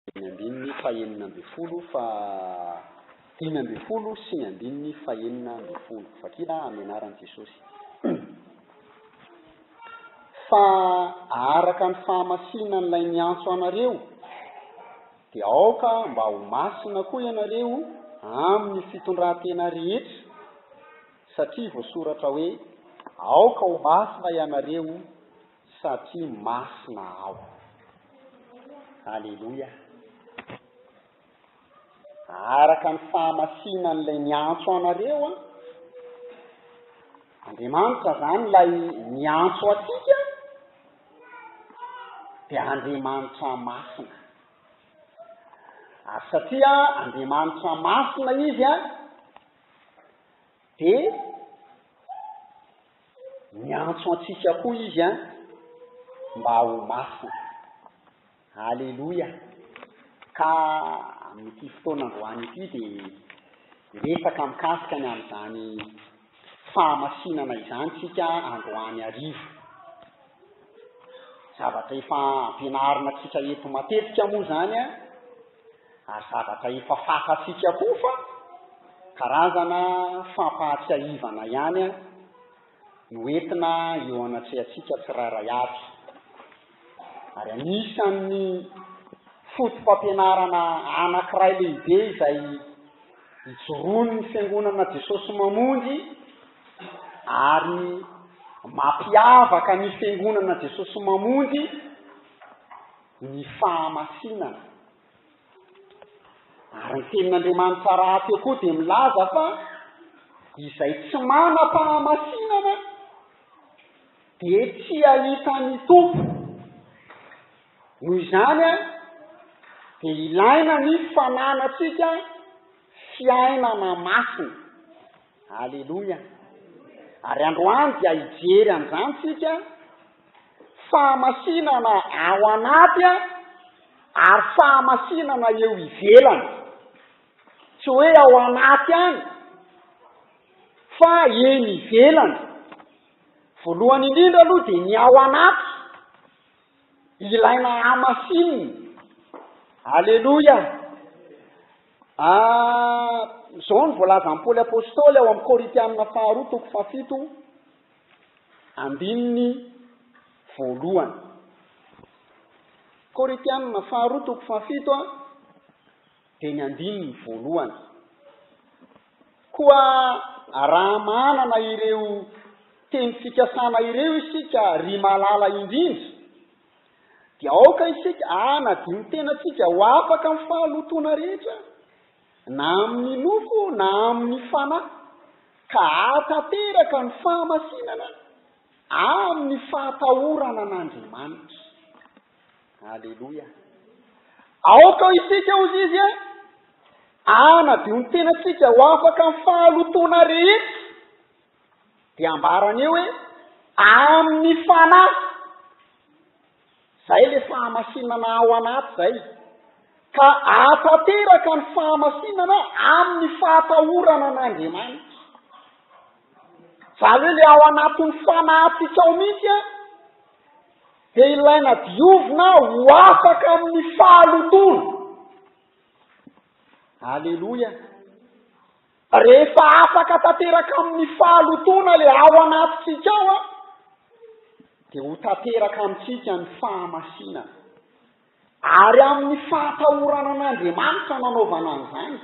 sy ny andininy fahenina ambin'ny folo fa dimy ambin'ny folo sy ny andininy fahenina ambin'ny folo. Vakina amin'ny anaran'i Jesosy. Fa araka ny fahamasinan'ilay niantso anareo, dia aoka mba ho masina koa ianareo amin'ny fitondran-tena rehetra, satria voasoratra hoe, Aoka ho masina ianareo, Satria masina aho. Aleloia. Araka ny fahamasinan'ilay niantso anareo an. Andriamanitra izany ilay niantso antsika dia Andriamanitra masina. Ary satria Andriamanitra masina izy an, dia Miantso antsika koa Izy an, mba ho masina. Aleloia! Ka amin'ity fotoana androany ity dia hiresaka mikasika ny amin'izany fahamasinana izany isika androany hariva. Zavatra efa ampianarina antsika eto matetika moa izany an, Ary zavatra efa fantatsika koa fa karazana fampahatsiahivana ihany no entina eo anatrehantsika tsirairay avy. Ary anisan'ny foto-pampianarana anankiray lehibe izay ijoroan'ny Fiangonana Jesosy Mamonjy ary mampiavaka ny Fiangonana Jesosy Mamonjy, ny fahamasinana. Ary ny tenin'Andriamanitra rahateo koa dia milaza fa izay tsy manam-pahamasinana dia tsy hahita ny Tompo. Noho izany a, dia ilaina ny fananantsika fiainana masina. Aleloia. Ary androany dia hijery an'izany tsika. Fahamasinana ao anaty ary fahamasinana eo ivelany. Tsy hoe ao anaty ihany fa eny ivelany. Voalohany indrindra aloha dia ny ao anaty ilaina hamasinina. Aleloia! Ah, izao no voalazan'i Paoly Apostoly ao amin'ny Korintianina faharoa toko fahafito. Andininy voalohany. Korintianina faharoa toko fahafito a, dia ny andininy voalohany. Koa raha manana ireo teny fikasana ireo isika ry malala indrindra, dia aoka isika hanadino tenantsika ho afaka amin'ny fahalotoana rehetra, na amin' ny loko na amin' ny fanahy, ka hahatanteraka ny fahamasinana amin' ny fahatahorana an' Andriamanitra. Aleloia! Aoka isika, hozy izy, hanadio ny tenantsika ho afaka amin' ny fahalotoana rehetra. Dia ambarany eo hoe, amin'ny Fanahy. Izay ilay fahamasinana ao anaty izay. Ka ahatanteraka ny fahamasinana amin'ny fahatahorana an'Andriamanitra. Izany hoe ilay ao anatin'ny fanahintsika ao mihitsy an, dia ilaina diovina ho afaka amin'ny fahalotoana. Aleloia. Rehefa afaka tanteraka amin'ny fahalotoana le ao anatintsika ao an, dia ho tanteraka amintsika ny fahamasinana. Ary amin'ny fahatahorana an'Andriamanitra nanaovana an'izany.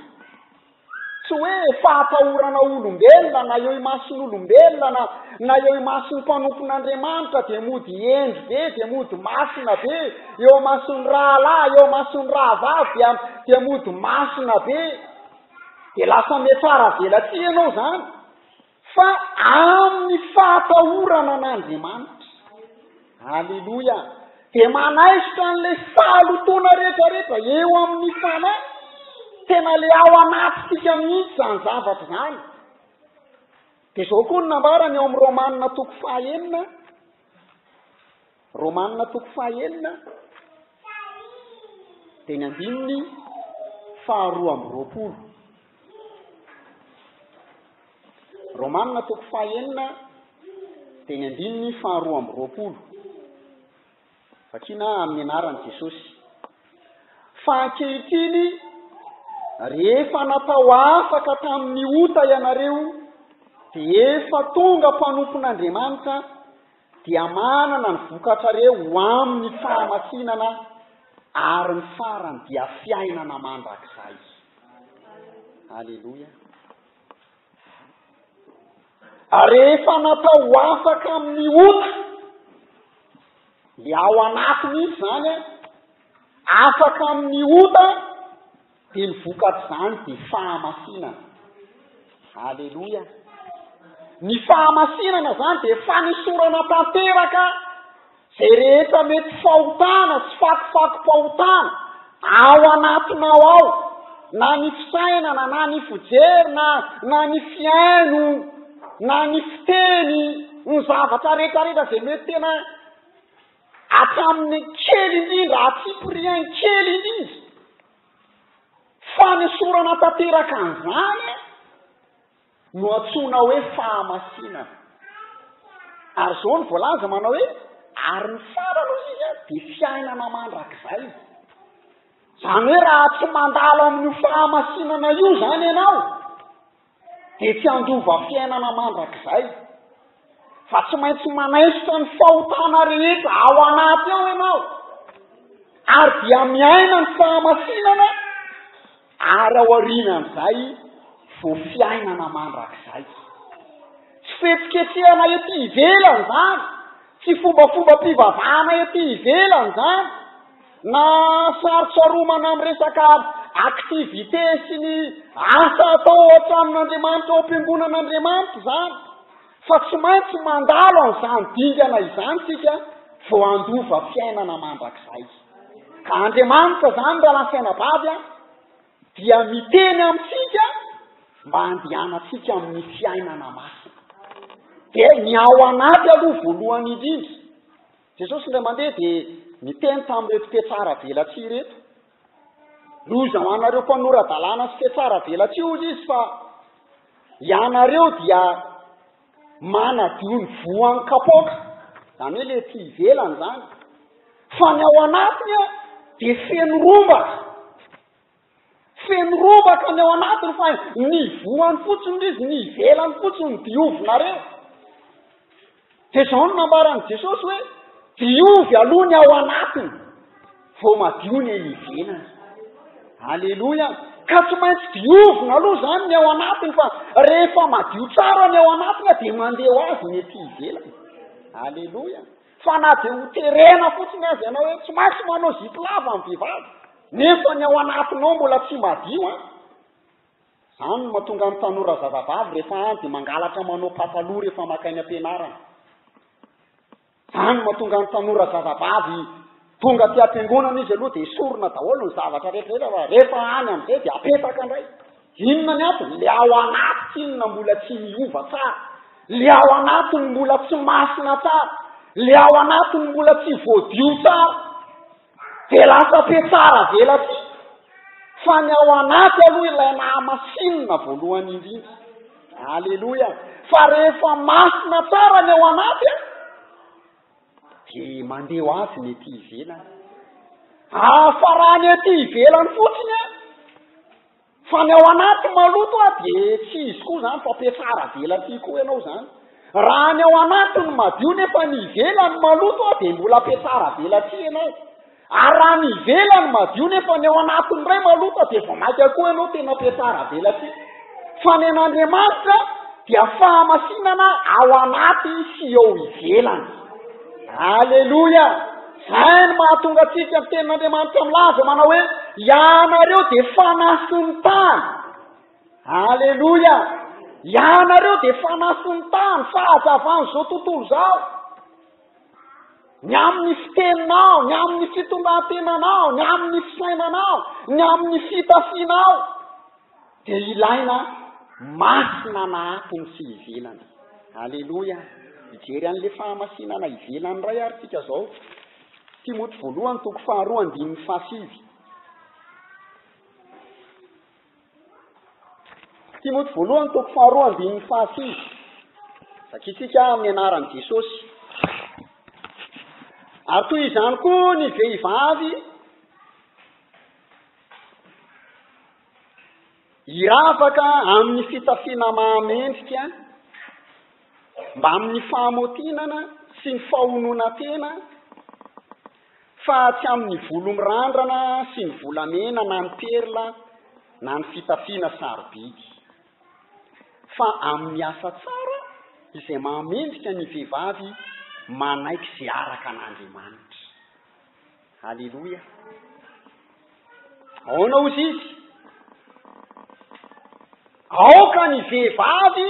Tsy hoe fahatahorana olombelona na eo imason'olombelona na na eo imason'ny mpanompon'Andriamanitra dia mody hendry be, dia mody masina be, eo imason'ny rahalahy, eo imason'ny rahavavy dia dia mody masina be. Dia lasa miatsara velatsihy ianao izany fa amin'ny fahatahorana an'Andriamanitra. Aleloia! Dia manaisotra an'ilay fahalotoana rehetrarehetra eo amin'ny fanahy. Tena ilay ao anatintsika mihitsy izany zavatra izany. Dia izao koa no nambarany ao amin'ny Romanina toko fahenina, Romana toko faha enina dia ny andininy faha roa amby roapolo. Romana toko faha enina dia ny andininy faha roa amby roapolo. Vakina amin'ny anaran'i Jesosy. Fa ankehitriny rehefa natao afaka tamin'ny ota ianareo dia efa tonga mpanompon'Andriamanitra dia manana ny vokatra re ho amin'ny fahamasinana ary ny farany dia fiainana mandrakizay. Aleloia. Ary rehefa natao ho afaka amin'ny ota, le ao anatiny izy zany, afaka amin'ny ota, Dia ny vokatr'izany dia fahamasinana. Aleloia. Ny fahamasinana izany dia fanosorana tanteraka izay rehetra mety fahotana sy fakofakom-pahotana ao anatinao ao, na ny fisainana, na ny fijery, na na ny fihaino, na ny fiteny, ny zavatra rehetra rehetra izay mety tena Hatramin'ny kely indrindra hatsipiriany kely indrindra. Fanesorana tanteraka an'izany no antsoina hoe fahamasinana. Ary izao no voalaza manao hoe, ary ny tsara aloha izy an, dia fiainana mandrakizay. Izany hoe raha tsy mandalo amin'io fahamasinana io izany ianao, dia tsy handova fiainana mandrakizay, fa tsy maintsy manaisotra ny fahotana rehetra ao anaty ao ianao, ary dia miaina ny fahamasinana, ary ao aorianan'izay vao fiainana mandrakizay. Tsy fihetsiketsehana ety ivelany izany, tsy fombafombam-pivavahana ety ivelany izany, Na fahatsiaromana amin'ny resaka activité sy ny asa atao ao an-tranon'Andriamanitra, ao am-piangonan'Andriamanitra izany, fa tsy maintsy mandalo an'izany dingana izany isika vao handova fiainana mandrakizay. Ka Andriamanitra izany, rahalahy sy anabavy a, dia miteny amintsika mba handehanantsika amin'ny fiainana masina. Dia ny ao anaty aloha voalohany indrindra. Jesosy indray mandeha dia niteny tamin'ireto mpihatsaravelatsihy ireto. Loza ho anareo mpanora-dalàna sy mpihatsaravelatsihy, hoy izy, fa ianareo dia manadio ny voan'ny kapoaka, izany hoe ilay ety ivelany izany, fa ny ao anatiny dia feno rombaka. Feno robaka ny ao anatiny fa ny ivohany fotsiny izy, ny ivelany fotsiny no diovinareo. Dia izao no nambaran'i Jesosy hoe, diovy aloha ny ao anatiny, vao madio ny eny ivelany. Aleloia! Ka tsy maintsy diovina aloha izany ny ao anatiny fa rehefa madio tsara ny ao anatiny dia mandeha ho azy ny ety ivelany. Aleloia! Fa na dia ho terena fotsiny aza ianao hoe tsy maintsy manao zipo lava ny vehivavy, nefa ny ao anatinao mbola tsy madio an! Izany no mahatonga ny tanora zazavavy rehefa any dia mangalatra manao pataloha rehefa maka eny am-pianarana. Izany no mahatonga ny tanora zazavavy Tonga aty am-piangonana izy aloha dia esorina daholo ny zavatra rehetra rehetra fa rehefa any amin'izay dia apetaka indray. Inona ny antony? Le ao anaty inona mbola tsy miova tsara. Le ao anatiny mbola tsy masina tsara. Le ao anatiny mbola tsy voadio tsara. Dia lasa pe tsara velatsihy. Fa ny ao anaty aloha ilay nahamasinina voalohany indrindra. Aleloia. Fa rehefa masina tsara ny ao anaty an. Dia mandeha ho avy ny ety ivelany. Afarany ety ivelany fotsiny e! Fa ny ao anaty maloto a dia tsy izy koa izany fa mpiatsara velatsihy koa ianao izany. Raha ny ao anaty no madio nefa ny ivelany maloto a dia mbola mpiatsara velatsihy ianao. Ary raha ny ivelany madio nefa ny ao anatiny indray maloto dia vao maika koa ianao tena mpiatsara velatsihy. Fa ny an'Andriamanitra dia fahamasinana ao anaty sy eo ivelany. Aleloia! Izay no mahatonga antsika ny tenin'Andriamanitra milaza manao hoe ianareo dia fanahy sy ny tany. Aleloia! Ianareo dia fanahy sy ny tany, fahazavan'izao tontolo izao. ny amin'ny fiteninao, ny amin'ny fitondran-tenanao, ny amin'ny fisainanao, ny amin'ny fitafianao, dia ilaina masina na ato ny sy ivelany. Aleloia! Mijery an'ilay fahamasinana ivelany iray ary tsika izao. Timoty voalohany, toko faharoa, andininy fahasivy. Timoty voalohany toko faharoa andininy fahasivy. Vakitsika amin'ny anaran'i Jesosy. Ary toy izany koa ny vehivavy hiravaka amin'ny fitafiana mahamendrika mba amin'ny fahamotinana sy ny fahonoana tena Fa tsy amin'ny volo mirandrana sy ny volamena na ny perla na ny fitafiana sarobidy. Fa amin'ny asa tsara izay mahamendrika ny vehivavy manaiky izay araka an'Andriamanitra. Aleloia! Ahoana hozy izy? Aoka ny vehivavy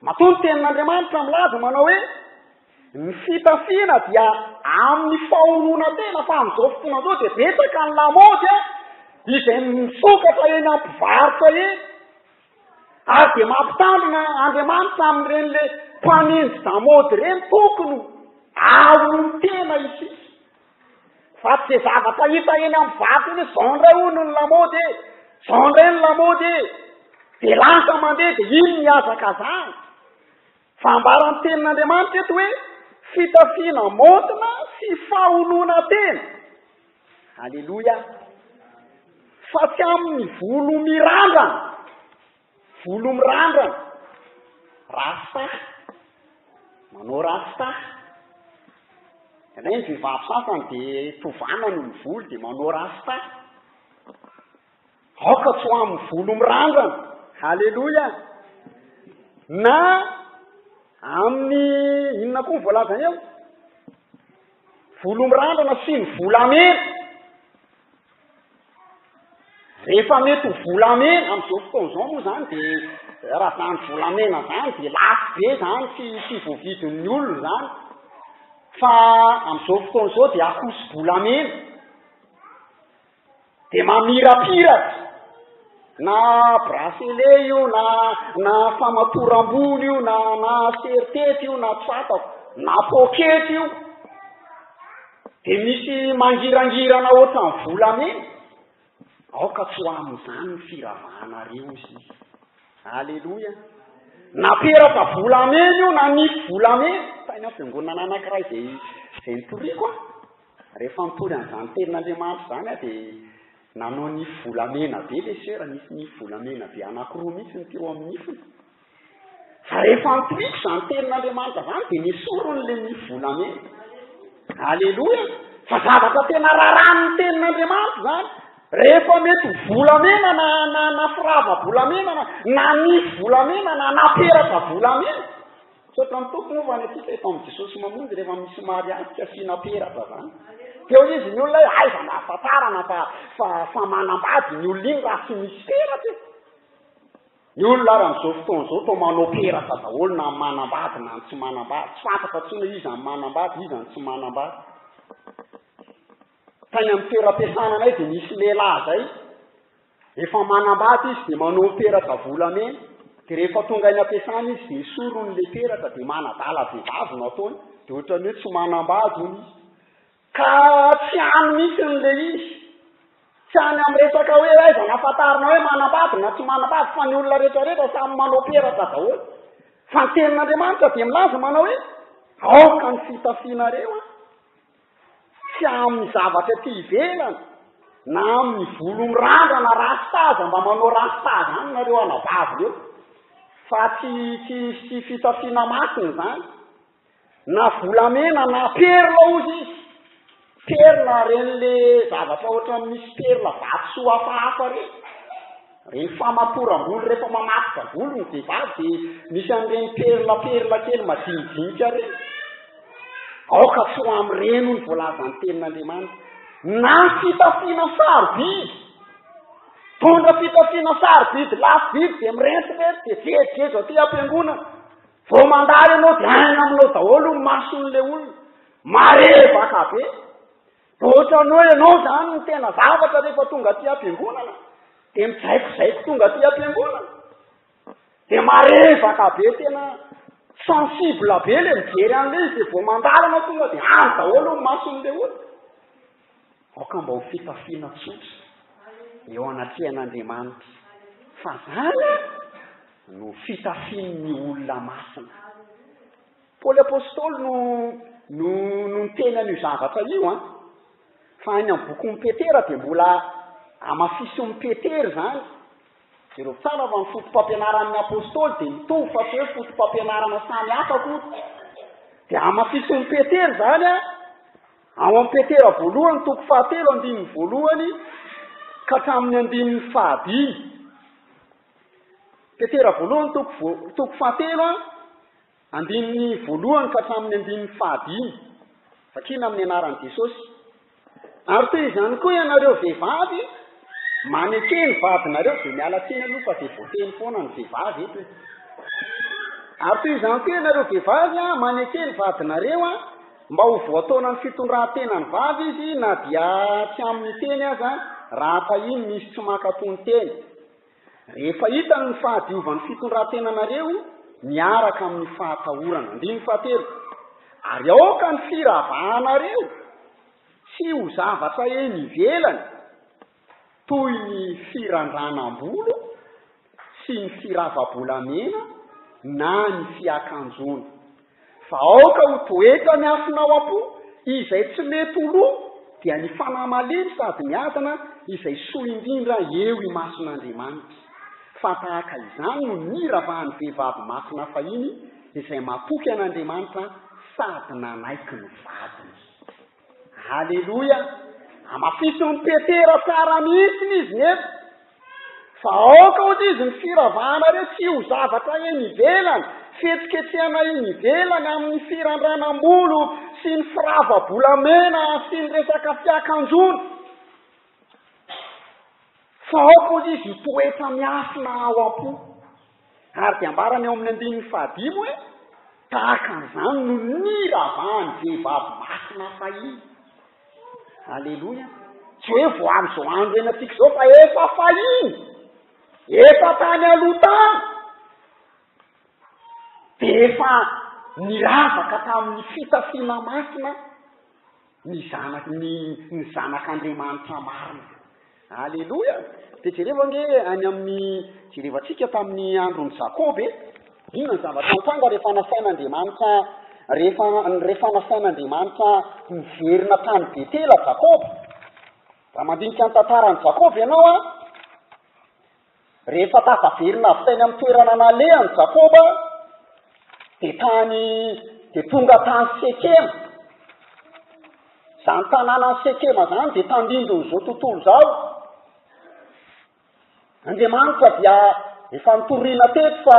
Matoa ny Tenin'Andriamanitra milaza manao hoe, Ny fitafiana dia amin'ny fahononan-tena, fa amin'izao fotoana izao dia betsaka ny lamaody izay misokatra eny amin'ny mpivarotra eny, ary dia mampitandrina Andriamanitra amin'ireny ilay mpanenji-damaody ireny, tokony hahonon-tena isika. Fa tsy izay zavatra hita eny amin'ny vato eny hoe izao indray hono ny lamaody e, izao indray ny lamaody e, dia lasa mandeha dia iny ny hazakazahana. Fa ambaran'ny tenin'Andriamanitra eto hoe fitafiana maontina sy faholoana tena. Aleloia! Fa tsy amin'ny volo mirandrana. Volo mirandrana, rasta, manao rasta. Indraindray ny vehivavy sasany dia tovana ny volo dia manao rasta. Aoka tsy ho amin'ny volo mirandrana. Haleloia. Na amin'ny inona koa ny voalaza eo? Volo mirandrana sy ny volamena. Rehefa mety ho volamena amin'izao fotoana izao moa izany dia raha izany volamena izany dia lafo be izany tsy tsy voavidin'ny olona izany fa amin'izao fotoana izao dia akoso-bolamena dia mamirapiratra na bracelet io na na famatoram-bolo io na na sertety io na tsatako na poketra io Dia misy mangirangirana ohatran'ny volamena, aoka tsy ho amin'izany ny firavahanareo sy ny. Aleloia! Na peratra volamena io na nify volamena, tany amin'ny fiangonana anankiray izay izay nitoriako aho, rehefa nitory an'izany tenin'Andriamanitra izany aho dia nanao nify volamena be ilay sœur, nisy nify volamena be anankiroa mihitsy ny teo amin'ny nifiny. Rehefa ampiriko izany tenin'Andriamanitra izany dia nesoriny ilay nify volamena. Aleloia! Fa zavatra tena rarahan'ny tenin'Andriamanitra izany. Rehefa mety ho volamena na na na firava-bolamena na na nify volamena na na peratra volamena. Tsotra ny tompony fa ny antsika eto amin'ny Jesosy mamonjy rehefa misy mariazy tsy asiana peratra izany. Teo izy ny olona hoe aiza no ahafantarana fa fa fa manambady ny olona iny raha tsy misy peratra e. Ny olona ary amin'izao fotoana izao toa manao peratra daholo na ny manambady na ny tsy manambady. Tsy fantatra intsony hoe iza ny manambady, iza ny tsy manambady. Tany amin'ny toeram-piasana anay dia nisy lehilahy izay, efa manambady izy dia manao ny peratra volamena, dia rehefa tonga any am-piasana izy dia esoriny ilay peratra dia manadala vehivavy no ataony, dia ohatran'ny hoe tsy manambady hono izy. Ka tsy hany mihitsy ny le izy. Tsy any amin'ny resaka hoe aiza no afantarana hoe manambady na tsy manambady fa ny olona rehetra rehetra samy manao peratra daholo. Fa ny tenin'Andriamanitra dia milaza manao hoe aoka ny fitafianareo an! Tsy amin'ny zavatra ety ivelany na amin'ny volo mirandrana rasta aza mba manao rasta izany nareo anabavy reo. Fa tsy tsy tsy fitafiana masina izany. Na volamena na perla ozy izy, perla ireny le zavatra ohatran'ny misy perla vatosoa hafahafa ireny, ireny famatoram-bolo rehefa mamatotra volo ny vehivavy dia misy an'ireny perla perla kely madinidinika ireny, aoka tsy ho amin'ireny hoy ny voalazan'ny tenin'Andriamanitra. Na fitafiana sarobidy, mitondra fitafiana sarobidy lafo vidy dia mirentirety dia jejojejo aty am-piangonana. Vao mandalo ianao dia aina aminao daholo ny mason'ilay olona. Marevaka be. Dia ohatran'ny hoe ianao izany no tena zavatra rehefa tonga aty am-piangonana. Dia mijaikojaiko tonga aty am-piangonana. Dia marevaka be tena sensible be ilay mijery an'ilay izy dia vao mandalo ianao tonga dia any daholo ny mason'ilay olona. Aoka mba ho fitafiana tsotra eo anatrehan'Andriamanitra, fa zany no fitafian'ny olona masina. Paoly Apostoly no, no, no niteny an'io zavatra io, an. Fa any amin'ny bokin'i Petera dia mbola amafisin'i Petera izany. Jereo tsara fa ny fotom-pampianaran'ny Apostoly dia mitovy fa tsy hoe fotom-pampianarana samy hafa akory. Dia amafisin'i Petera izany, an. Ao amin'ny Petera voalohany toko fahatelo andininy voalohany ka hatramin'ny andininy fahadimy. Petera voalohany toko, vo, toko fahatelo andininy voalohany ka hatramin'ny andininy fahadimy. Vakina amin'ny anaran'i Jesosy. Ary toy izany koa ianareo vehivavy, maneke ny vadinareo, dia miala tsiny aloha fa dia voateny foana ny vehivavy eto e. Ary toy izany koa ianareo vehivavy, maneke ny vadinareo, Mba ho voataonan'ny fitondran-tenany vavy izy na dia tsy amin'ny teny aza raha tahiany misy tsy mankatò ny teny. Rehefa hitany ny fahadiovan'ny fitondran-tenanareo miaraka amin'ny fahatahorana. Andininy fahatelo. Ary aoka ny firavanareo tsy ho zavatra eny ivelany. toy ny firandranam-bolo sy ny firava-bolamena na ny fiakanjoana. Fa aoka ho toetra miafina ao am-po izay tsy mety ho lo dia ny fanahy malemy sady miadana izay soa indrindra eo imason'Andriamanitra. Fa tahaka izany no niravahan'ny vehivavy masina fahiny izay matoky an'Andriamanitra sady nanaiky ny vadiny. Aleloia! Amafisin'i Petera tsara mihitsiny izy ny eto, fa aoka hoy izy ny firavahanareo tsy ho zavatra eny ivelany, fihetsiketsehana eny ivelany amin'ny firandranam-bolo sy ny firava-bolamena sy ny resaka fiakanjoana, fa aoka hoy izy ho toetra miafina ao am-po. Ary dia ambarany ao amin'ny andininy fahadimy hoe, Tahaka an'izany no niravahan'ny vehivavy masina fahiny. Aleloia! Tsy hoe vao amin'izao andro iainantsika izao fa efa fahiny, efa tany aloha tany, dia efa niravaka tamin'ny fitafiana masina. Ny zanaky ny ny zanak'Andriamanitra marina. Aleloia! Dia jereo ange any amin'ny, jerevantsika tamin'ny andron'i Jakoba e. Inona ny zavatra nitranga rehefa nasain'Andriamanitra, rehefa, rehefa nasain'Andriamanitra niverina tany Betela Jakoba? Raha mandinika ny tantaran'i Jakoba ianao an, Rehefa tafaverina avy tany amin'ny toerana nalehany Jakoba, dia tany, dia tonga tany Sekema. Izany tanànan'i Sekema izany dia tandindon'izao tontolo izao. Andriamanitra dia efa nitoriana teto fa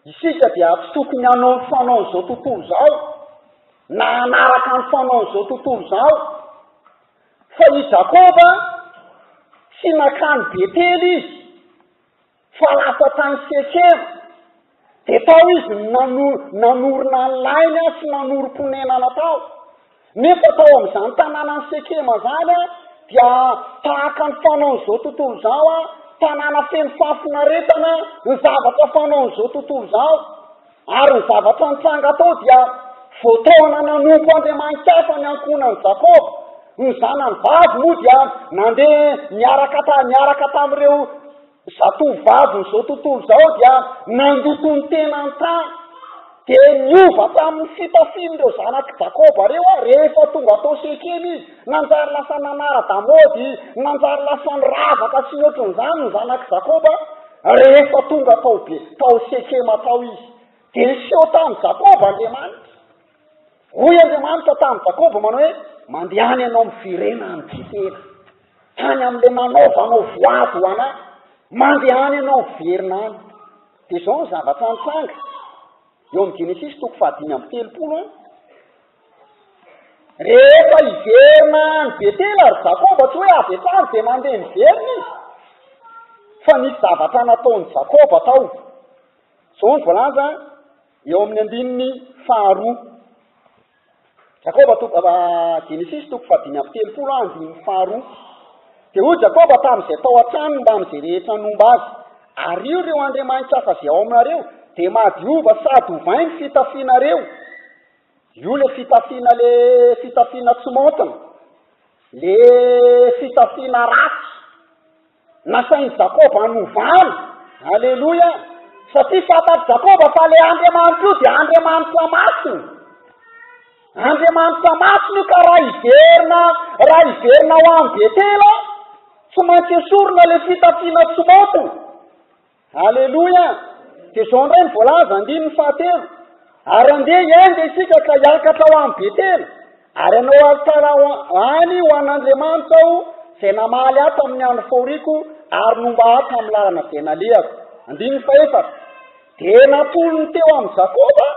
isika dia tsy tokony hanao ny fanaon'izao tontolo izao, na hanaraka ny fanaon'izao tontolo izao. Fa i Jakoba, tsy nankany Betela izy, fa lasa tany Sekema. Dia tao izy no nanorina ny lainy sy nanorim-ponenana tao. Nefa tao amin'izany tanànan'i Sekema izany dia tahaka ny fanaon'izao tontolo izao, tanàna feno fahafinaretana, ny zavatra fanaon'izao tontolo izao. Ary ny zavatra nitranga tao dia, Vao taona nanompo andriamani-kafa ny ankohonan'i Jakoba. Ny zanany vavy moa dia nandeha niaraka ta, niaraka tamin'ireo zatovovavin'izao tontolo izao dia nandoto ny tenany tany. Dia niova tamin'ny fitafian'ireo zanak'i Jakoba ireo aho rehefa tonga tao Sekema izy. Nanjary lasa nanara-damaody, nanjary lasa niravaka sy ny ohatran'izany ny zanak'i Jakoba. Rehefa tonga tao Be, tao Sekema tao izy, dia niseho tamin'i Jakoba Andriamanitra. Hoy Andriamanitra tamin'i Jakoba manao hoe, Mandehana ianao miverena any Betela, tany amin'ilay nanaovanao voady ho anà, mandehana ianao miverina any. Dia izao ny zavatra nitranga, eo amin'ny Genesisy toko fahadimy amby telopolo an. Rehefa hiverina any Betela ry Jakoba, tsy hoe avy hatrany dia nandeha niverina izy, fa nisy zavatra nataon'i Jakoba tao. Izao no voalaza eo amin'ny andininy faharoa. Jakoba toko, uh, Genesis toko fadimy amby telopolo ah, andininy faharoa. Dia hoy Jakoba tamin'izay tao an-tranony mba amin'izay rehetra nomba azy, ario ireo andriamanitra hafa izay ao aminareo, dia mahadiova sady ovainy fitafinareo. Io le fitafiana le fitafiana tsy maontina, le fitafiana ratsy nasain'i Jakoba hanovana, aleloia, satria fantatr'i Jakoba fa le Andriamanitra io dia Andriamanitra masina, Andriamanitra masina io ka raha hiverina, raha hiverina ho any Betela, tsy maintsy esorina le fitafiana tsy maontina. Aleloia! Dia izao indray ny voalaza, andininy fahatelo, Ary andeha hiainga isika ka hiakatra ho any Betela, ary hanao alitara any ho an'Andriamanitra aho, izay namaly ahy tamin'ny andro fahoriako ary nomba ahy tamin'ny lalana izay nalehako. Andininy fahefatra, Dia natolony teo amin'i Jakoba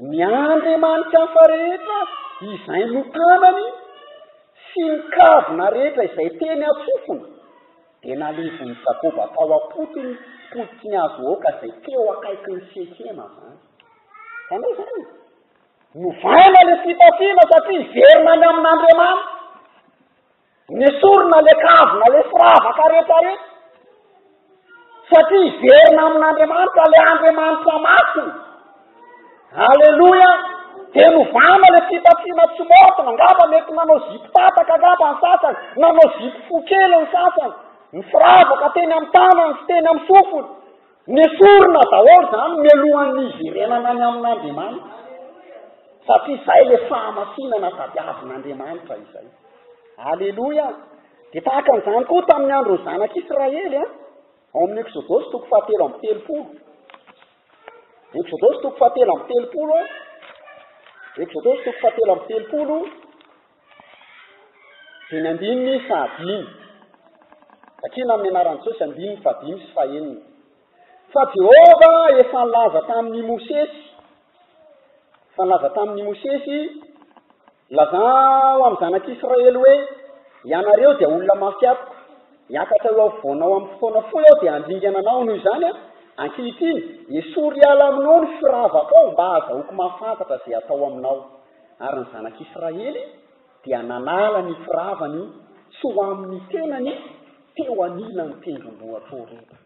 ny andriamanitra hafa rehetra izay notanany sy ny kavina rehetra izay teny an-tsofiny. Dia nalevon'i Jakoba tao am-potony potiky ny hazo oaka izay teo akaikin'i Sekema izany. Izany hoe izany, novaina ilay fitafiana satria hiverina any amin'Andriamanitra. Nesorina ilay kavina, ilay firavaka rehetra rehetra. Satria hiverina amin'Andriamanitra ilay Andriamanitra masina. Aleloia! Dia novana ilay fitafiana tsy maontina, angamba mety nanao zipo tataka angamba ny sasany, nanao zipo fohy kely ny sasany, ny firavaka teny amin'ny tanany sy teny amin'ny sofiny, nesorina daholo izany mialohan'ny hiverenana any amin'Andriamanitra, satria izay ilay fahamasinana tadiavin'Andriamanitra izay. Aleloia! Dia tahaka an'izany koa tamin'ny andron'ny zanak'Israely, an, ao amin'ny Eksodosy toko fahatelo amby telopolo. Eksodosy toko fahatelo amby telopolo, Eksodosy toko fahatelo amby telopolo, dia ny andininy fahadimy. Vakina amin'ny anaran'i Jesosy andininy fahadimy sy fahenina. Fa Jehovah efa nilaza tamin'i Mosesy, efa nilaza tamin'i Mosesy, Lazao amin'ny zanak'Israely hoe, Ianareo dia olona mafy amiko. Hiakatra eo afovoanao amin'ny fotoana fohy aho dia handringana anao noho izany aho. Ankehitriny, esory hiala aminao ny firavakao mba hahazahoako mahafantatra izay hatao aminao. Ary ny zanak'Israely dia nanala ny firavany tsy ho amin'ny tenany teo anilan'ny tendrombohitra Horeba.